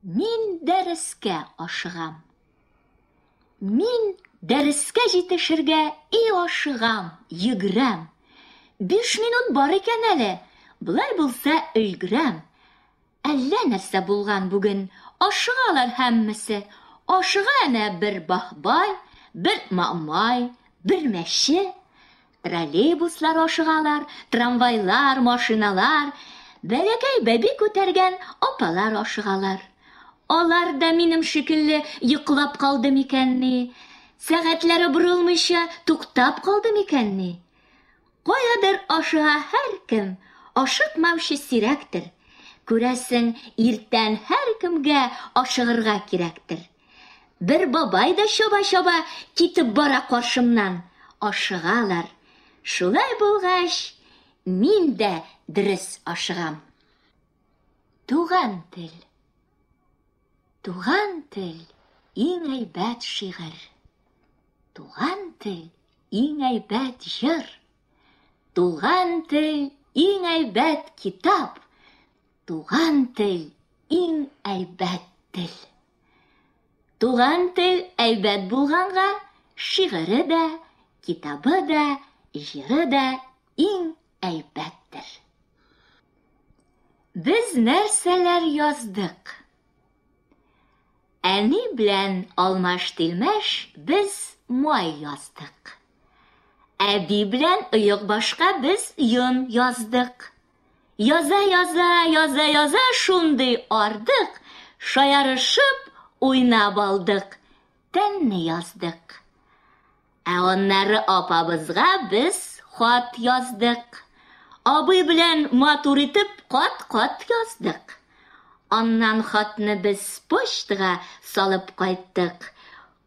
Мин дәрескә ашыгам. Мин дәрескә җитешергә и ашыгам, йөгрәм. Биш минут бар икән әле, болай булса өлгерәм. Әллә нәрсә булган бүген, ашыгалар һәммәсе. Ашыга әнә бер бахбай, бер мамай, бер мәче. Троллейбуслар ашыгалар, трамвайлар, машиналар, бәләкәй бәби күтәргән апалар ашыгалар. Алар да минем шикелле йоклап калды микәнни, сәгатьләре борылмыйча туктап калды микәнни? Каядыр ашыга һәркем, ашыкмаучы сирәктер. Күрәсең, иртән һәркемгә ашыгырга кирәктер. Бер бабай да чаба-чаба китеп бара каршымнан. Ашыгалар. Шулай булгач, мин дә дөрес ашыгам. Туган тел. Туган тел иң әйбәт шигырь. Туган тел иң әйбәт җыр. Туган тел иң әйбәт китап. Туган тел иң әйбәт тел. Туган тел әйбәт булганга, шигыре дә, китабы да, җыры да иң әйбәттер. Без нәрсәләр яздык? Әни белән алмаш-тилмәш без май яздык. Әби белән оек башка без йон яздык. Яза-яза, яза-яза шундый ардык, шаярышып уйнап алдык, тәнне яздык. Ә аннары апабызга без хат яздык. Абый белән матур итеп кат-кат яздык. Аннан хатны без почтага салып кайттык.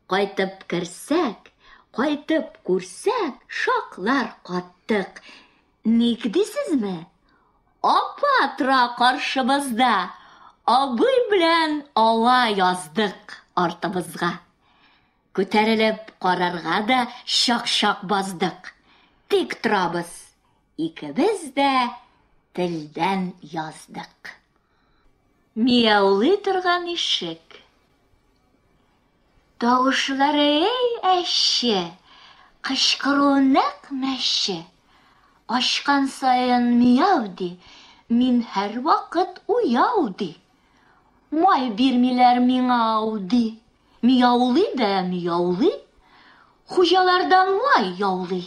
Кайтып керсәк, кайтып күрсәк, шаклар каттык. Ник дисезме? Апа тора каршыбызда, абый белән ала яздык артыбызга. Күтәрелеп карарга да чак-чак баздык. Тик торабыз, икебез дә телдән яздык. Мияулый торган ишек. Тавышлары эй әче, кычкыруы нәкъ мәче. Ачкан саен мияу ди, мин һәрвакыт уяу ди. Май бирмиләр миңа ау ди. Мияулый да мияулый. Хуҗалардан май яулый.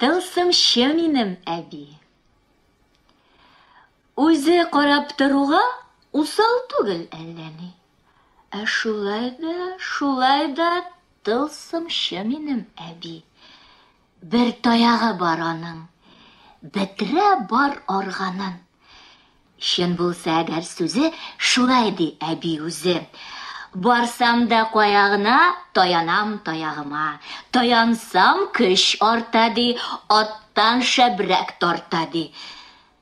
Тылсымчы минем әби. Үзе карап торуга усал түгел әллә ни. Ә шулай да, шулай да тылсымчы минем әби. Бер таягы бар аның. Бетерә бар органын. Чын булса әгәр сүзе, шулай ди әби үзе. Барсам да кая гына, таянам таягыма. Таянсам көч арта ди, аттан шәбрәк тарта ди.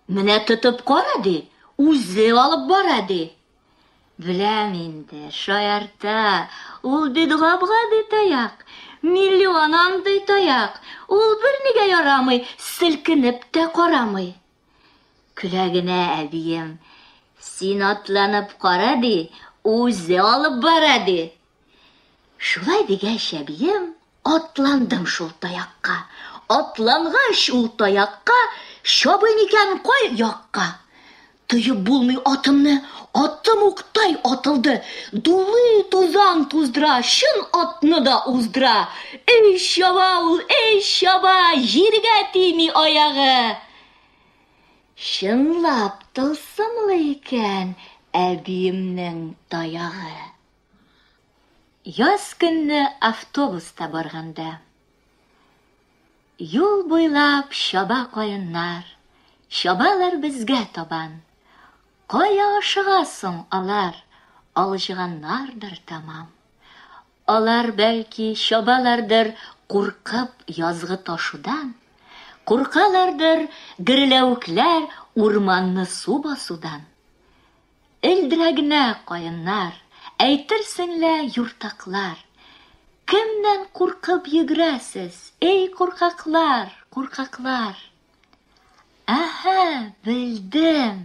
Менә тотып кара ди, үзе алып бара ди. Беләм инде, шаярта, ул бит гап-гади таяк. Миллион андый таяк, ул бернигә ярамый, селкенеп тә карамый. Көлә генә әбием, Син атланып кара, ди, үзе алып бара, ди. Шулай дигәч, әбием, атландым шул таякка. Атлангач ул таякка, чабыйм икән кай якка. Тоеп булмый атымны, атым уктай атылды. Дулый тузан туздыра, чын атны да уздыра. Өй чаба ул, өй чаба, җиргә тими аягы. Чынлап тылсымлы икән әбиемнең таягы. Яз көнне автобуста барганда. Юл буйлап чаба каеннар, чабалар безгә табан. Кая ашыга соң алар, алҗыганнардыр тәмам. Алар, бәлки, чабалардыр, куркып, язгы ташудан, Куркалардыр, герләвекләр, урманны су басудан. Элдерә генә каеннар, әйтерсең лә юртаклар. Кемнән куркып йөгерәсез, эй куркаклар, куркаклар? Әһә, белдем!